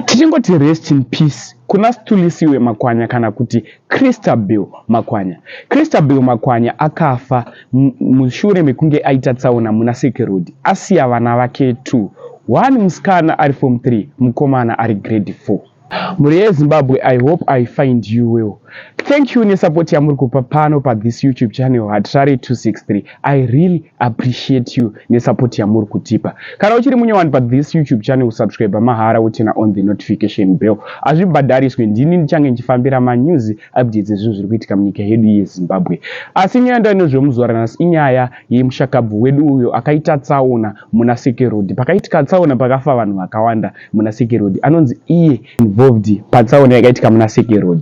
Tichingoti rest in peace kuna Stulisiwe Makwanya kana kuti Christabel Makwanya. Christabel Makwanya akafa mushure mekunge aita tsaona muna Seke Road asiya vana vake two, one musikana ari form 3 mukomana ari grade 4. Mhuri yeZimbabwe I hope I find you well. Thank you nesupport yamuri kupa pano pa this YouTube channel Hatirare 263. I really appreciate you nesupport yamuri kutipa. Kana uchiri munyowani pa this YouTube channel kusubscribe mahara wotina on the notification bell. Azvibhadhariswe ndini ndichange ndichifambira ma news updates ezvinhu zviri kuitika munyika yedu yeZimbabwe. Asi nyaya ndainozve muzuva ranhasi inyaya yemushakabvu wedu uyo akaita tsaona muna Seke Road. Pakaitika tsaona pakafa vanhu vakawanda muna Seke Road. Anonzi iye involved patsaona yakaitika muna Seke Road.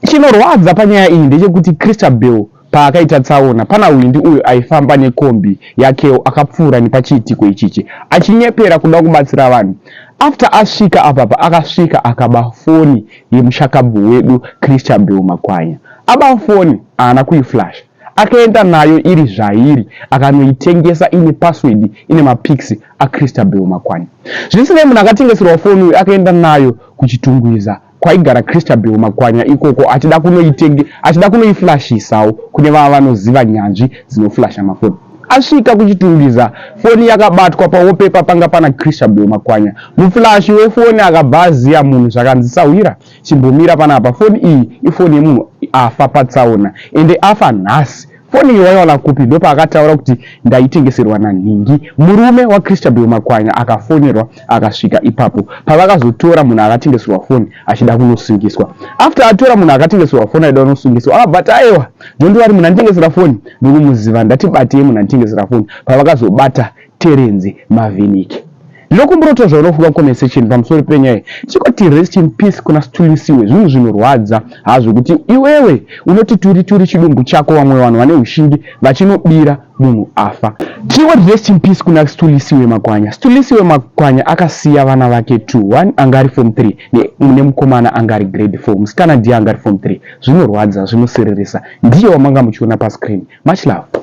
Chinorwadza panyaya iyi ndechekuti Christabel Paakaita tsaona, pana Hwindi uyo aifamba nekombi yakewo akapfuura nepachiitiko ichichi achinyepera kuda kubatsira vanhu. After asvika apa paakasvika akaba foni yemushakabvu wedu Christabel Makwanya. Aba foni haana kuiflasha. Akaenda nayo iri zvairi akanoitengesa ine password ine mapics aChristabel Makwanya. Zvisinei munhu akatengeserwa foni uyu akaenda nayo kuChitungwiza kwaigara Christabel Makwanya ikoko achida kunoitenge achida kunoiflashisawo kune vava vanoziva nyanzvi dzinoflasha mafoni. Asvika kuchitungiza foni yakabatwa pawopepa panga pana Christabel Makwanya. Muflashi wefoni akabva aziya munhu zvakanzi sahwira chimbomira panapa foni iyi ifoni yemunhu afa patsaona ende afa nhasi Foni iyo waiwana kupi? Ndopaakataura kuti ndaitengeserwa nanhingi. Murume waChristabel Makwanya akafonerwa akasvika ipapo pavakazotora munhu akatengeserwa foni achida kunosungiswa. After atora munhu akatengeserwa foni aida kunosungiswa akabva ati aewa Jondiwari munhu anditengesera foni ndikumuziva ndati batei munhu anditengesera foni pavakazobata Terenzi Mavinike. Ndinokumbirawo kuti zvaunofunga mucomment section pamusoro penyaya iyi chikoti rest in peace kuna Situlisiwe zvinhu zvinorwadza hazvo kuti iwewe unoti turi turi chidumbu chako vamwe vanhu vane hushingi vachinobira munhu afa. Tiwoti rest in peace kuna Situlisiwe Makwanya. Situlisiwe Makwanya akasiya vana vake two one anga ari form three nemukomana anga ari grade four musikana ndiye anga ari form three zvinorwadza zvinosiririsa ndiye wamanga muchiona pascreen. Much love.